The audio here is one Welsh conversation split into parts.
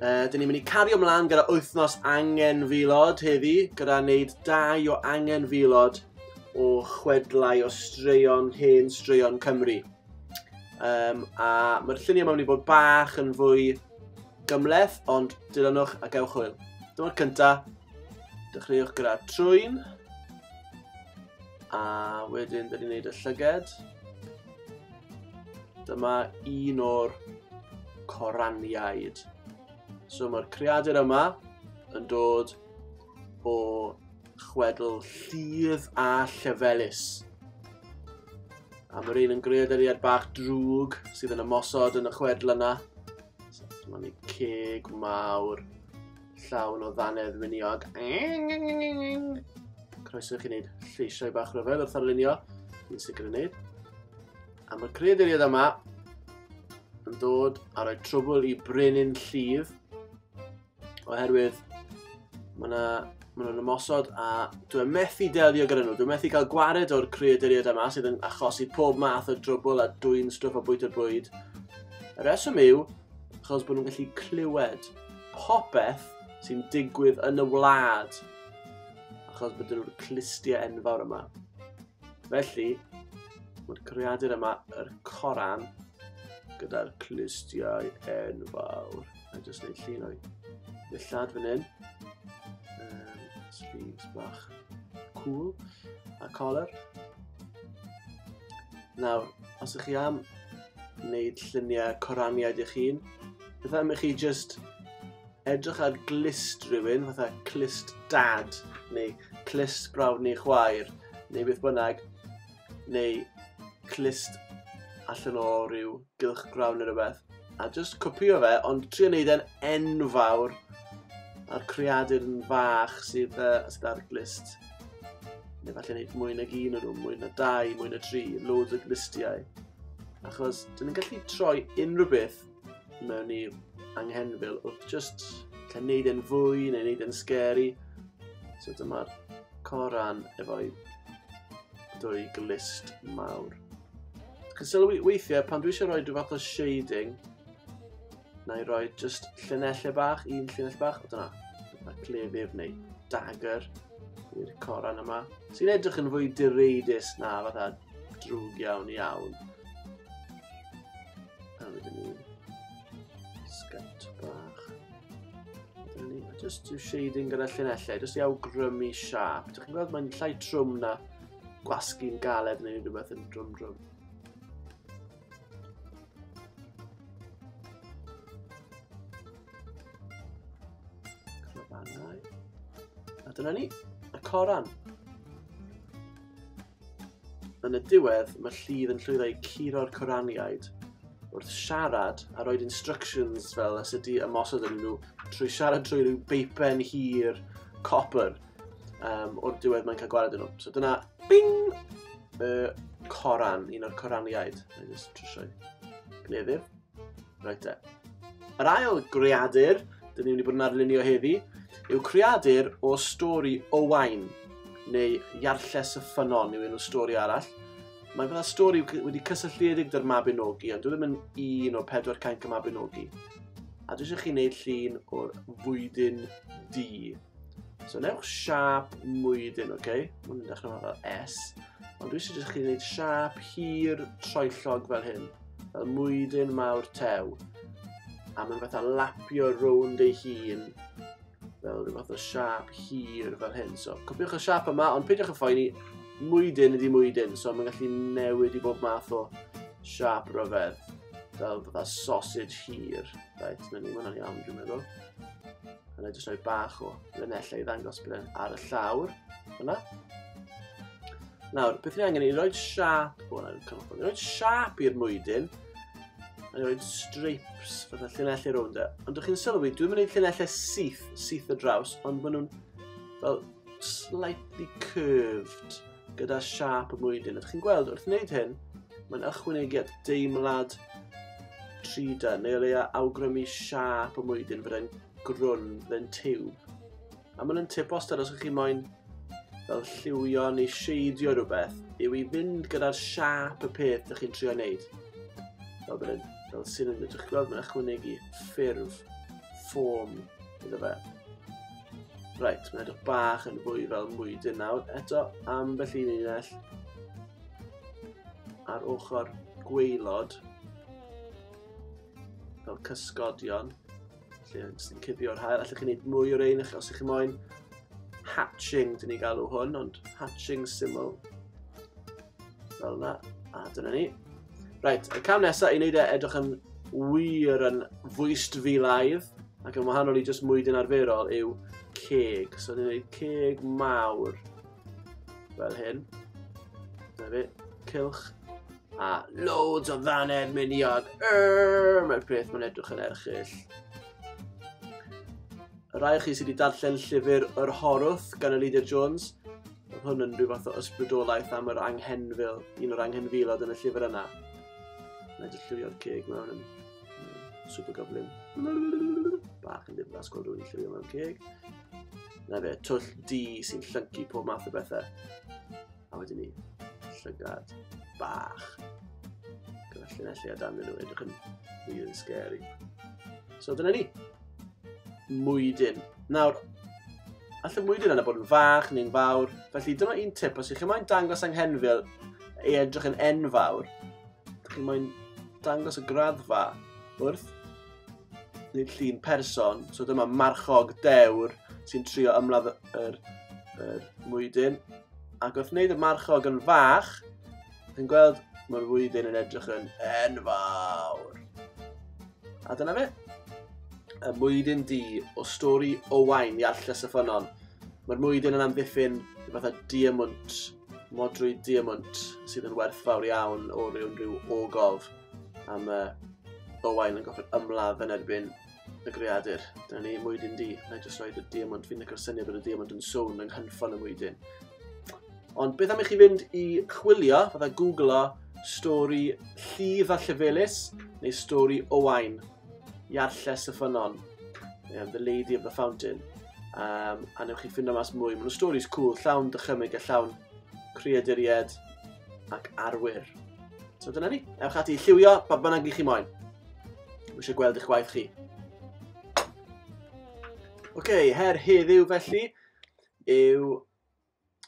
Uh, dyn ni'n mynd i cario mlaen gyda wythnos angen filod heddi, gyda wneud dau o angen filod o chwedlau o straeon hen straeon Cymru. Um, a mae'r lluniau mae'n mynd i bod bach yn fwy gymleth, ond dilynwch a gewch hwyl. Dyma'r cyntaf, dechreuwch gyda trwyn, a wedyn dyn ni'n gwneud y llyged. Dyma un o'r coraniaid. So mae'r creadur yma yn dod o chwedl llif a llefelus. A mae'r un yn greaduriad bach drwg sydd yn ymosod yn y chwedl yna. So, dyma ni ceg mawr. llawn o ddannedd winiog. Croeso i chi wneud lleisiau bach rhyfedd wrth arlunio. Dwi'n sicr yn wneud. A mae creaduriaid yma yn dod a rhoi trwbl i brenin llif oherwydd mae yna maen nhw'n ymosod a dwi'n methu delio gyda nhw. Dwi'n methu cael gwared o'r creaduriaid yma sydd yn achosi pob math o drwbl a dwy'n stwff o bwyta bwyd. Y reswm yw, achos bod nhw'n gallu clywed popeth sy'n digwydd yn y wlad, achos bod nhw'r clustiau enfawr yma. Felly, mae'r creadur yma, yr coran, gyda'r clustiau enfawr. A jyst neud llun o'i ddillad fan hyn. Um, sleeves bach cool a collar. Nawr, os ych chi am wneud lluniau coraniaid eich hun, Beth am i chi just edrych ar glist rhywun, fatha clist dad, neu clist brawd neu chwaer, neu beth bynnag, neu clist allan o rhyw gylch grawn neu rhywbeth, a just copio fe, ond trio wneud e'n enfawr, a'r creadur yn fach sydd, uh, sydd ar glist. Neu falle wneud mwy nag un o nhw, mwy na dau, mwy na tri, loads o glistiau. Achos, dyn ni'n gallu troi unrhyw beth mewn i anghenfil wrth just lle wneud yn fwy neu wneud yn scary. So dyma'r coran efo'i dwy glist mawr. Dwi'n sylwi weithiau pan dwi eisiau rhoi rhyw fath o shading, na i roi just llunellau bach, un llunell bach, o dyna, a clefydd neu dagger i'r coran yma, sy'n edrych yn fwy direidus na fatha drwg iawn iawn. A wedyn ni... Sgant bach. Wedyn ni... Just do shading gyda llinellau, just i awgrymu siap. Dych chi'n gweld mae'n llai trwm na gwasgu'n galed neu rhywbeth yn drwm drwm. Clobannau. A dyna ni, y coran. Yn y diwedd, mae Lludd yn llwyddo i curo'r Coraniaid wrth siarad a roed instructions fel os ydy ymosod yn nhw trwy siarad trwy rhyw beipen hir copper um, o'r diwedd mae'n cael gwared yn nhw. So dyna, bing! Y coran, un o'r coraniaid. Mae'n just trwsio'i gleddyf. Reit te. Yr ail greadur, dyn ni'n mynd i bod yn arlunio heddi, yw creadur o stori Owain, neu Iarlles y Ffynon yw un o stori arall. Mae fydda stori wedi cysylltiedig dy'r Mabinogi, ond dwi ddim yn un o'r pedwar cainc y Mabinogi. A dwi eisiau chi wneud llun o'r fwydyn di. So newch siap mwydyn, oce? Okay? Mae'n mynd dechrau fel S. Ond dwi eisiau chi wneud siap hir troellog fel hyn. fel mwydyn mawr tew, a mae'n fatha lapio rownd ei hun fel rhyw fath o siap hir fel hyn. So, copiwch y siap yma, ond peidiwch y phoeni, mwydyn ydi mwydyn, so mae'n gallu newid i bob math o siap rhyfedd, fel fatha sausage hir. Right, mae'n ni, mae'n iawn, dwi'n meddwl. A na i jyst rhoi bach o linell ei ddangos bod e'n ar y llawr. Yna. Nawr, beth ni angen i roed siap, o na, cyfnod, i roed siap i'r mwydyn, a roed stripes, fatha llinellau rownd e. Ond ydych chi'n sylwi, dwi'n mynd i llinellau syth, syth y draws, ond maen nhw'n fel slightly curved gyda siap y mwydyn. Ydych chi'n gweld, wrth wneud hyn, mae'n ychwanegiad deimlad trida, neu o leia awgrymu siap y mwydyn fydde'n grwn mewn tiwb. A maen nhw'n tip wastad os ydych chi moyn fel lliwio neu sheidio rhywbeth yw i fynd gyda'r siap y peth ydych chi'n trio wneud. Fel, bydden, fel sy'n yn ydych gweld mae'n ychwanegu ffurf, ffôm iddo fe. Right, mae'n edrych bach yn fwy fel mwydyn nawr. Eto, am ambell un unell ar ochr gweilod fel cysgodion. Felly, jyst yn cudio'r hael, allwch chi wneud mwy o'r ein os ych chi moyn. Hatching, dyn ni galw hwn, ond hatching syml. Fel yna, a dyna ni. Right, y cam nesaf i wneud e edrych yn wir yn fwyst fi laidd, ac yn wahanol i jyst mwydyn arferol, yw ceg. So, ni'n gwneud ceg mawr fel hyn. Dyna fi, cilch A loads o ddannedd miniog. Err, Mae'r peth mae'n edrych yn erchill. Y rai chi sydd wedi darllen llyfr Yr Horwth gan Elidia Jones, oedd hwn yn rhyw fath o ysbrydolaeth am yr anghenfil, un o'r anghenfilod yn y llyfr yna. Mae'n dy llywio'r ceg mewn yn super goblin. Bach yn ddiflas gweld rhywun llywio mewn ceg. Na fe, twll di sy'n llyncu pob math o bethau. A wedyn ni, llygad bach. Gyda llinellu a dan nhw, edrych yn mwy yn scary. So dyna ni. Mwydyn. Nawr, allan mwydyn yna bod yn fach neu'n fawr. Felly dyna un tip, os ydych chi'n dangos anghenfil ei edrych yn enfawr, ydych chi'n dangos y graddfa wrth neu llun person. So dyma marchog dewr sy'n trio ymladd yr, yr mwydyn. Ac wrth wneud y marchog yn fach, chi'n gweld mae'r mwydyn yn edrych yn enfawr. A dyna fe. Y mwydyn di o stori Owain i Allus y Ffynon. Mae'r mwydyn yn amddiffyn i fatha diamwnt, modrwy diamwnt sydd yn werthfawr iawn o ryw unrhyw ogof. am y Owain yn gofyn ymladd yn erbyn y greadur. Dyna ni, mwydyn di. Na i jyst rhoi y diamond. Fi'n licor syniad bod y diamond yn swn yng nghynffon y mwydyn. Ond beth am i chi fynd i chwilio, fydda googlo, stori llif a llefelus, neu stori Owain, Iarlles y Ffynon, um, The Lady of the Fountain. Um, a newch chi ffindo mas mwy. Mae'n stories cool, llawn dychymyg a llawn creaduried ac arwyr. So dyna ni. Ewch ati i lliwio pa bynnag i chi moyn. Mae eisiau gweld eich gwaith chi. Oce, okay, her heddiw felly yw...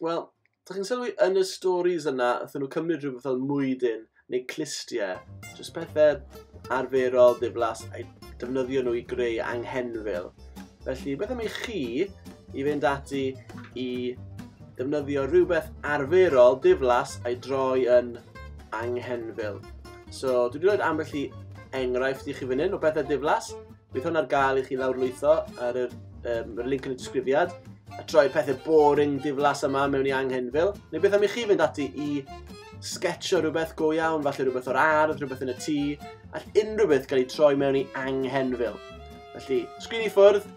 Wel, da chi'n sylwi yn y stories yna, ydyn nhw cymryd rhywbeth fel mwydyn neu clistiau, jyst pethau arferol, ddiflas, a defnyddio nhw i greu anghenfil. Felly, beth am i chi i fynd ati i defnyddio rhywbeth arferol, diflas, a'i droi yn anghenfil. So, dwi wedi rhoi ambell i enghraifft i chi fan hyn o bethau diflas. Bydd hwn ar gael i chi lawrlwytho ar yr, um, yr link yn y disgrifiad a troi pethau boring diflas yma mewn i anghenfil. Neu beth am i chi fynd ati i sketcho rhywbeth go iawn, falle rhywbeth o'r ardd, rhywbeth yn y tŷ, all unrhyw beth gael ei troi mewn i anghenfil. Felly, sgrin i ffwrdd,